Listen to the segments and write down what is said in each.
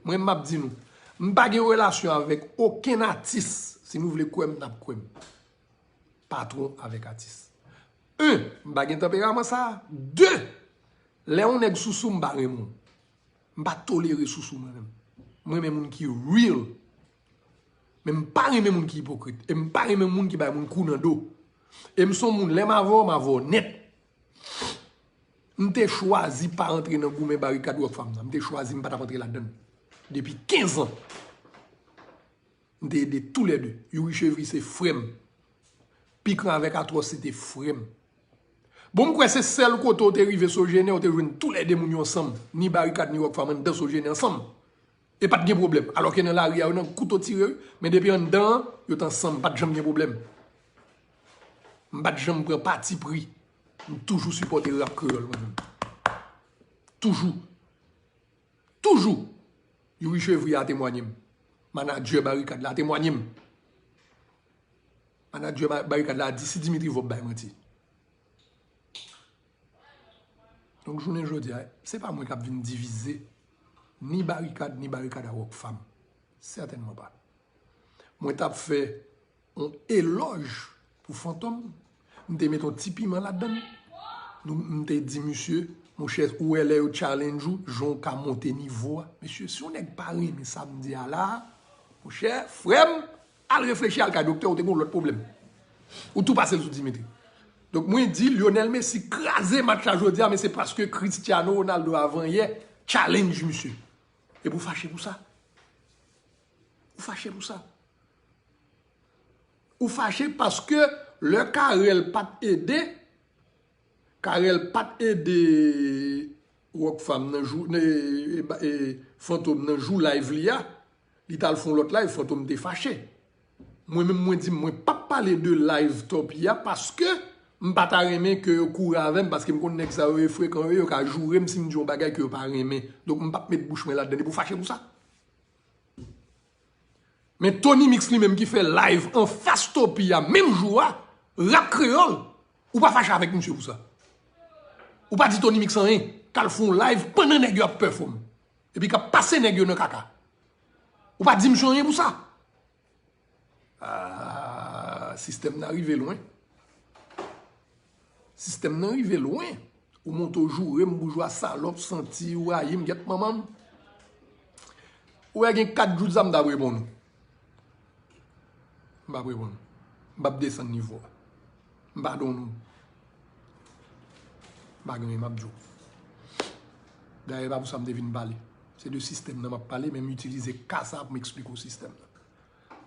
Mwen map di nou, m pa gen relasyon avèk okenn atis, si nou vle kwèm nap kwèm, patwon avèk atis. Un, m pa gen tanperaman sa, de, lè yon nèg sousou m pa renmen w, m pa tolere sousou mwen menm. Mwen renmen moun ki real Men m pa renmen moun ki ipokrit. E m pa renmen moun ki bay moun kou nan do. E m son moun lè m avè w, m avè w nèt. M te chwazi pa antre nan goumen barikad Rockfam nan. M te chwazi m pa t ap antre ladan l. Depi 15 an. M te ede tou lè 2. Youri Chevry se frè m. Pikran avèk Atros se te frè m. Bon m kwè se sèl kote w te rive Sogener ou te jwenn tou lè 2 moun yo ansanm. Ni barikad ni Rockfam anndan Sogener ansanm. E pat gen pwoblèm. Alò ke nan lari a yo nan kouto tire wi. Men depi anndan an, yo t ansanm. Pat janm gen pwoblèm. M pat janm pran pati pri. M toujou sipòte rap kreyòl mwen menm. Toujou. Toujou. Youri Chevrier a temwanye m. Manadjè Barikad la a temwanye m. Manadjè Barikad la a di si Dimitri Vorbe bay manti. Donk jounen jodi a, se pa mwen k ap vin divize ni Barikad ni Barikad a Rockfam. Sètènman pa. Mwen t ap fè yon elòj pou Fantom, m te met yon ti piman ladann, m te di misye, monchè, ou wè lè yo challenge ou, jan w ka monte nivo a. Mesye, si yon nèg pa renmen sa m di a la a, monchè, frè m! Al reflechi al kay doktè ou te gen yon lòt pwoblèm. Ou tou pasel sou Dimitri. Donk mwen di Lionel Messi kraze match la jodi a men se paske Cristiano Ronaldo avan yè challenge misye. Epi ou fache pou sa. Ou fache pou sa. Ou fache paske lè Carel pat ede. Carel pat ede Rockfam nan jou Fantom nan jou live li a li tal fon lòt live Fantom te fache mwen menm mwen di mwen pap pale de live Tòpy a paske m pa ta renmen ke yo kouri avèm paske m konn nèg sa yo e frekan yo e yo ka jourem sim di yon bagay ke yo pa renmen donk m pap met bouch mwen ladann e pou fache pou sa. Men Tony Mix li menm ki fè live anfas Topi a menm jou a, Rap Kreyòl, ou pa fache avèk misye pou sa. Ou pa di Tony Mix anyen, k al fè yon live pandan nèg yo ap pèfòm. Epi k ap pase nèg yo nan kaka. Ou pa di misye anyen pou sa. Aah sistèm nan rive lwen. Sistèm nan rive lwen. Ou monte ou joure m boujwa salòp santi ou rayi m gyèt manman m. Ou wè gen 4 jou de sa m t ap reponn ou. M p ap reponn ou. M p ap desann nivo a. M pa don moun. M pa gen anyen m ap di w. Dayè e pa pou sa m te vin pale. Se de sistèm nan m ap pale men m itilize ka sa a pou m esplike w sistèm nan.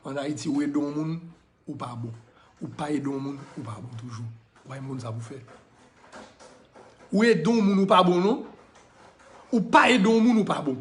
An Ayiti ou ede yon moun, ou pa bon. Ou pa ede yon moun, ou pa bon toujou. Ou pa janm konn sa pou w fè. Ou ede yon moun ou pa bon non. Ou pa ede yon moun ou pa bon.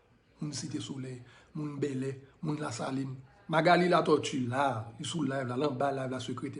Moun site solèy, moun bèlè, moun lasalin. Magalie Latortue la, li sou live la, l anba live la sekretè.